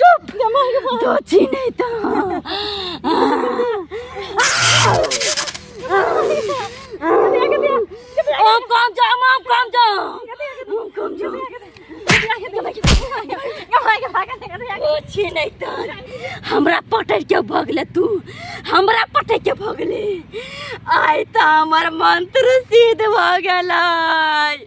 चुप तो छी नहीं तो ओ कम जा माम कम जा माम कम जा तो छी नहीं तो हमरा पटै के भगले तू हमरा पटै के भगले आय तो हमर मंत्र सिद्ध भ गेलै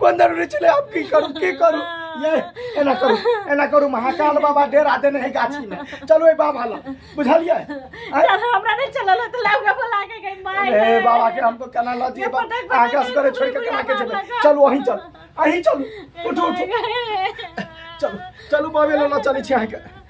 कोन दर रे चले आप की करू की करू ये एना करू एना करू महाकाल बाबा डेरा देने है गाछी में चलो ए बाबा ला बुझलिए आय? चल हमरा नहीं चलल है तो लौका बोला के गई माय ए बाबा के हमको केना ल दिए बा पटक पटक आकाश करे छोड़ के केना के बुढ़िया जेबे बाबा। चल वहीं चल अहीं चल उठो उठो चल चलू बाबे ला चली छी अहाँ के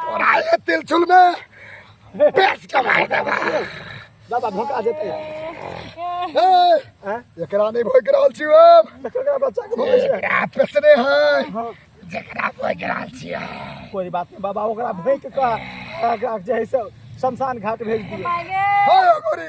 तोरा ये तिल चुल में पेश कमाई देबा दादा भोका जेते ए एकरा नहीं भोग रहल छी हम एकरा बच्चा के भोगे छै एकरा पेसने है जेकरा भोग रहल छी हम कोई बात नहीं बाबा ओकरा भोग के कह जे है से शमशान घाट भेज दिए हाय गोरी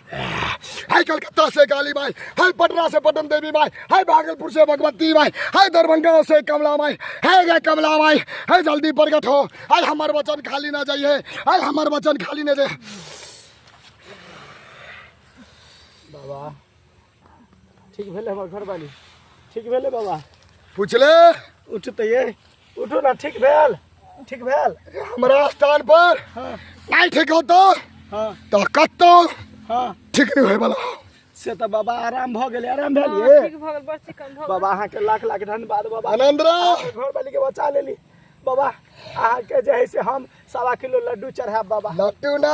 हाय कलकत्ता से काली माई हाय पटना से पटन देवी माई हाय भागलपुर से भगवती माई हाय दरभंगा से कमला माई हाय गे कमला माई हाय जल्दी प्रकट हो हाय हमार वचन खाली ना जाइए हाय हमार वचन खाली ना जाए बाबा ठीक भेले हमर घर वाली ठीक भेले बाबा पूछले उठते ये उठो ना ठीक भेल ठीक भेल हमरा स्थान पर हाँ नहीं ठीक होतो हाँ तो कतो हाँ ठीक नहीं होए वाला से तो बाबा आराम भ गेले आराम भेल ये ठीक भऽ गेल बड़ चिकन भऽ गेल बाबा अहाँ के लाख लाख धन्यवाद बाबा आनंद रा अहाँके घर वाली के बचा लेली बाबा अहाँ के जे है से हम सवा किलो लड्डू चढ़ाब बाबा लट्टू ना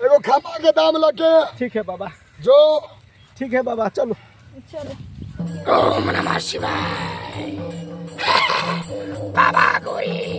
एगो खमा के दाम लगे ठीक है बाबा जो ठीक है बाबा चलो चलो ओम नमः शिवाय बाबा गोरी